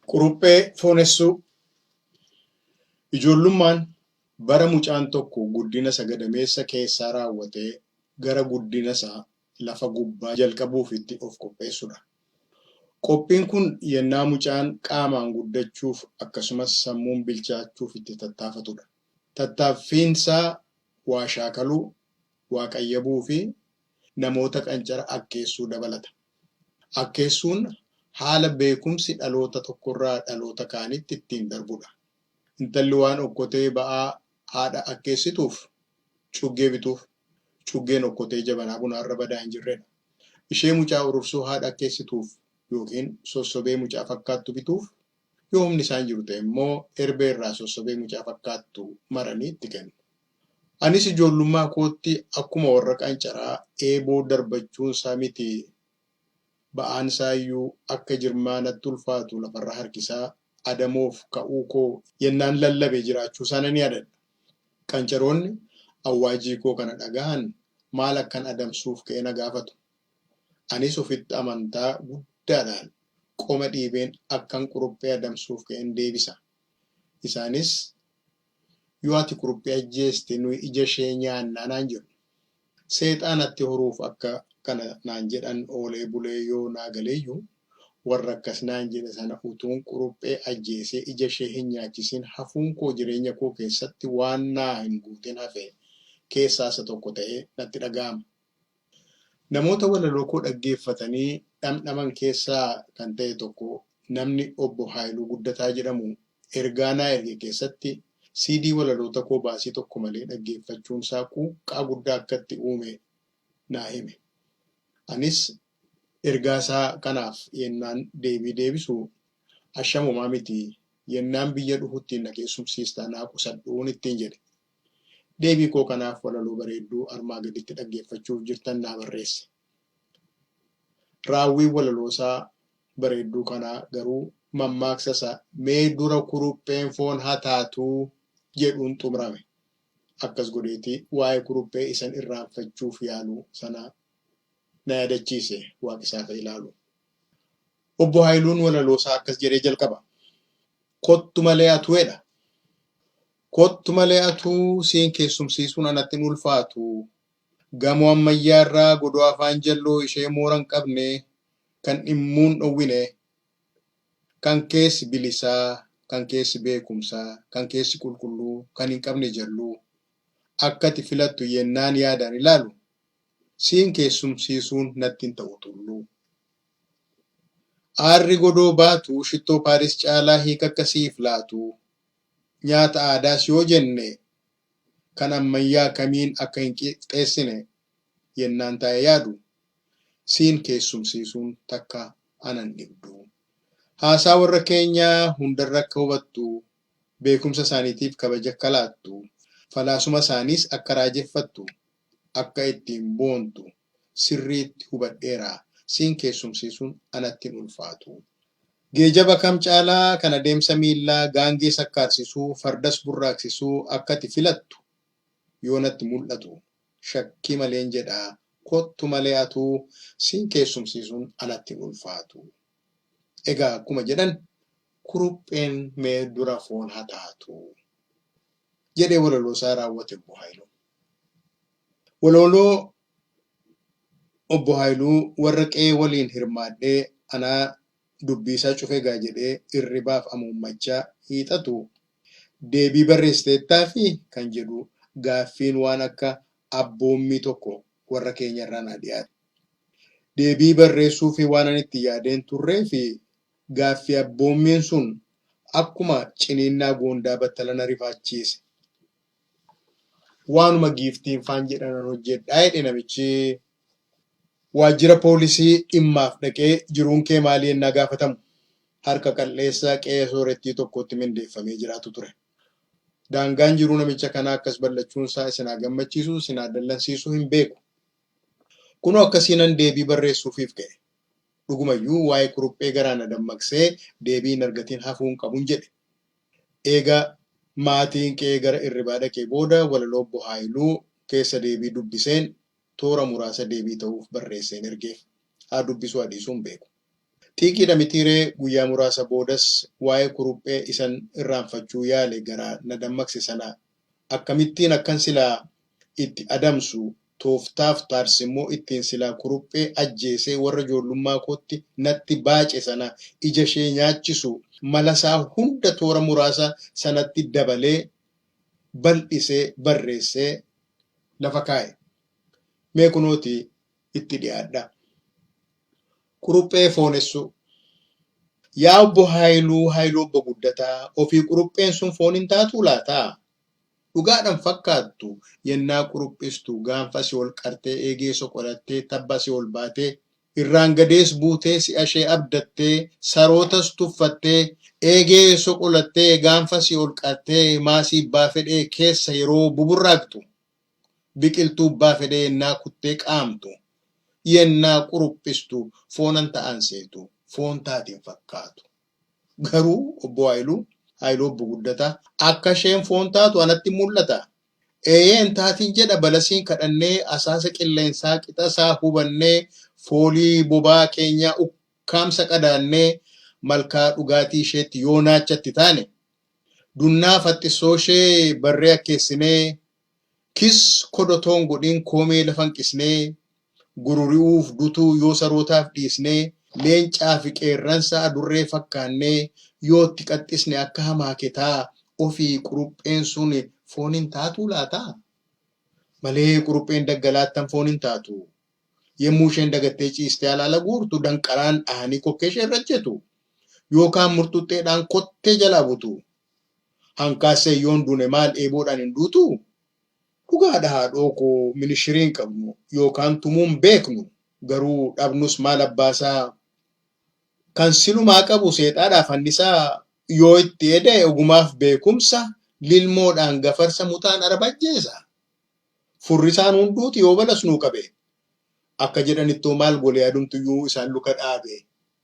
Quruphee foonessuu Ijoollummaan bara mucaan tokko guddinasa gadameessa keessaa raawwatee gara guddinasa lafa gubbaa jalqabuuf itti of qopheessudha. Qophiin kun yennaa mucaan qaamaan guddachuuf akkasumas sammuun bilchaachuuf itti tattaafatudha. Tattaaffiinsaa waa shaakaluu, waa qayyabuufi namoota qancara akkeessuu dabalata. Akkeessuun haala beekumsi dhaloota tokkorraa dhaloota kaanitti ittiin darbudha. Intalli waan okkotee ba'aa haadha akkeessituuf cuggee bituuf. Cuggeen okkotee jabanaa bunaarra badaa hinjirredha. Ishee mucaa urursuu haadha akkeessituuf ykn sossobee mucaa fakkaattu bituuf Yoo humni isaa hin jiru ta'e immoo erbee irraa sossobee mucaa fakkaattu maranii itti kennu. Anis ijoollummaa kootti akkuma warra qancaraa eeboo darbachuun isaa miti ba'aan isaa iyyuu akka jirmaa natti ulfaatu lafarra harkisaa adamoof ka'uu koo yennaan lallabe jiraachuu isaa nan yaadadha. Qancaroonni awwaajii koo kana dhagahan maal akkan adamsuuf ka'e na gaafatu. Anis ofitti amantaa guddaadhaan qoma dhiibeen akkan quruphee adamsuuf ka'en deebisa. Isaanis, Yoo ati quruphee ajjeeste nuyi ija ishee nyaanna naan jedhu. Seexaa natti horuuf akka kana naan jedhan oolee bulee yoo naa galeyyuu, warra akkas naan jedhe sana utuun quruphee ajjeesee ija ishee hin nyaachisin hafuun koo jireenya koo keessatti waan naa hin guutin hafe keessaa isa tokko ta'ee natti dhaga'ama. Namoota walalookoo dhaggeeffatanii dhamdhaman keessaa kan ta'e tokko namni Obbo Haayiluu Guddataa jedhamu ergaa naa erge keessatti CD walalootakoo baasii tokko malee dhaggeeffachuunsaa quuqqaa guddaa akka itti uume naa hime. Anis ergaasaa kanaaf yennaan deebii deebisu Asham homaa miti, yennaan biyya dhufutti na keessumsiistaa naa qusadhu ittiin jedhe. Deebii koo kanaaf walaloo bareedduu armaa gaditti dhaggeeffachuuf jirtan naa barreessa. Raawwiin walaloosaa bareedduu kanaa garuu mammaaksa isa mee dura kurupheen foon ha taatuu jedhuun xumrame. Akkas godheeti waa'ee kuruphee isan irraanfachuuf yaalu sana na yaadachiise Waaqesaa Fayilaalu. Obbo Hayiluun walaloosaa akkas jedhee jalqaba. Kottu malee atu edha. Kottu malee atuu siin keessumsiisuun anatti hin ulfaatu. Gamoo ammayyaa irra godoo afaan jalloo ishee moora hin qabne, kan dhimmuu hin dhowwine. Kan keessi bilisa, kan keessi beekumsa, kan keessi qulqulluu, kan hin qabne jalluu. Akka ati filattu yennaan yaadaan ilaalu, siin keessumsiisuun natti hin ta'u Tulluu. Aarri godoo baatu shittoo Paaris caalaa hiika akka siif laatu Nyaata aadaas yoo jenne kan ammayyaa kamiin akka hin qixxeessine yennaan taa'ee yaadu, siin keessumsiisuun takka ana hin dhibdu. Haasaa worra keenyaa hundarra akka hubattu, beekumsa isaaniitiif kabaja akka laattu, falaasuma isaaniis akka raajeffattu akka ittiin boontu sirriitti hubadheera. Siin keessumsiisuun anatti hin ulfaatu. Geejaba kam caalaa kan adeemsa miillaa, gaangee sakkaarsisuu, fardas burraaqsisuu akka ati filattu yoo natti mul'atu shakkii maleen jedha kottu malee atuu siin keessumsiisuun anatti hin ulfaatu. Egaa akkuma jedhan kurupheen mee dura foon haa taatu. Jedhee walaloosaa raawwate Obbo Haayiluun. Walooloo obbo Haayiluu warra qe'ee waliin hirmaadhee anaa dubbiisaa cufe gaa jedhee irribaaf amuummachaa hiixatu deebii barreessiteettaafi? kan jedhu gaaffiin waan akka abboommii tokko warra keenyarraa naa dhiyaate. Deebii barreessuufii waanan itti yaadee hin turreefi gaaffii abboommiin sun akkuma ciniinnaa goondaa battala na rifaachiise. waanuma giiftiin faan jedhanan hojjedhaa jedhe namichi waajjira poolisii dhimmaaf dhaqee jiruun kee maalii ennaa gaafatamu harka qal'eessa qe'ee soorettii tokkootti mindeeffamee jiraatu ture. Daangaan jiruu namicha kanaa akkas bal'achuun isaa isin haa gammachiisu isin haa dallansiisu hin beeku. Kunoo akkasiinan deebii barreessuufiif ka'e. Dhugumayyuu waa'ee kuruphee garaa na dammaqsee deebii hin argatiin hafuun qabun jedhe. Eega maatiin kee gara irribaa dhaqee booda walaloo Obbo Haayiluu keessa deebii dubbiseen toora muraasa deebii ta'uuf barreesseen ergeef. Haa dubbisuu haa dhiisuu hin beeku. Xiiqiidha mitiiree guyyaa muraasa boodas waa'ee kuruphee isan irraanfachuu yaale garaa na dammaqse sana akkamittiin akkan silaa itti adamsu, tooftaaf taarsimmoo ittiin silaa kuruphee ajjeesee warra joollummaa kootti natti baace sana ijashee nyaachisu malasaa hunda toora muraasa sanatti dabalee bal'isee barreessee lafa kaa'e. Mee kunooti itti dhiyaadhaa. Kuruphee foonessuu. Yaa Obbo Haayiluu, Haayiluu Obbo Guddataa, ofii kurupheen sun foon hin taatuu laata? Dhugaadhan fakkaattu yennaa quruphistu, gaanfa si ol qartee, eegee soqolattee, tabba si ol baatee, irraangadees buutee, si'a ishee abdattee, sarootas tuffattee, eegee soqolattee, gaanfa si ol qartee, maasii bbaa fedhee keessa yeroo buburraaqxu, biqiltuu bbaa fedhee yennaa kuttee qaamtu, yennaa quruphistu, foonan ta'aan seetu, foon taate hin fakkaatu. Garuu Obbo Haayiluu, Haayiluu Obbo Guddataa, akka isheen foon taatu anatti hin mul'ata. Eeyee hin taatiin jedha balasiin kadhannee asaasa qilleensaa qixa isaa hubannee foolii bobaa keenyaa ukkaamsa qadaannee malkaa dhugaatii isheetti yoo naacha itti taane dunnaa faxxissoo ishee barree akkeessinee Kiss kod otoo hin godhin koomee lafa hin qisnee Gururi'uuf dutuu yoo sarootaaf dhiisnee Leencaa fi qeerransa adurree fakkaannee Yoo itti qaxxisne akka hamaaketaa Ofii qurupheen sun foon hin taatuu laataa? Malee qurupheen daggalaa attam foon hin taatu? Yemmuu isheen dagattee ciistee alaala guurtu Danqaraan dhahanii kokkee ishee irra ejjetu Yookaan murxuxxeedhaan kottee jalaa butu Hankaaseen yoon duune maal dheeboodhaan hin duutuu? Dhugaadha haadhoo koo minishirii hin qabnu yookaan tumuu hin beeknu garuu dhabnus maal abbaasaa kan silumaa qabu seexaadhaa fannisaa yoo itti eda'e ogumaaf beekumsa lilmoodhaan gafarsa muxaan araba ajjeesa furrisaan hunduuti yoo balas nuu qabe akka jedhanittoo maal gole adumtuyyuu isaan luka dhaabe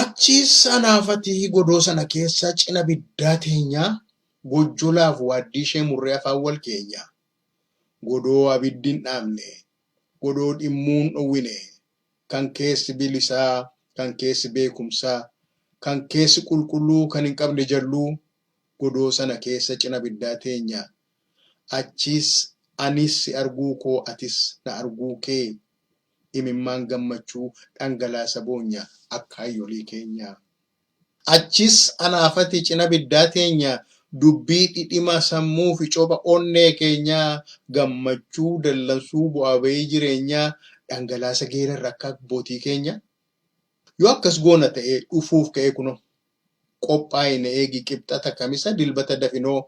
Achiis anaafati godoo sana keessa cina biddaa teenyaa gojjolaaf waaddii ishee murree afaan wal keenya. Godoo abiddi hin dhaamne, godoo dhimmuu hin dhowwine, kan keessi bilisaa, kan keessi beekumsa, kan keessi qulqulluu kan hin qabne jalluu godoo sana keessa cina biddaa teenya. Achiis anis si arguu koo atis na arguu kee imimmaan gammachuu dhangalaasa boonya akkaayolii keenya. Achiis anaafati cina biddaa teenya dubbii dhidhima sammuufi copha onnee keenya gammachuu dallansuu bu'aa ba'ii jireenya dhangalaasa geerarra akka abbootii keenya. Yoo akkas goona ta'ee dhufuuf ka'ee kunoo qophaa'i na eegi Qibxata Kamisa Dilbata dafinoo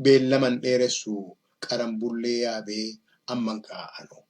beellama hin dheeressu qaranbullee yaabee amman ka'a anoo.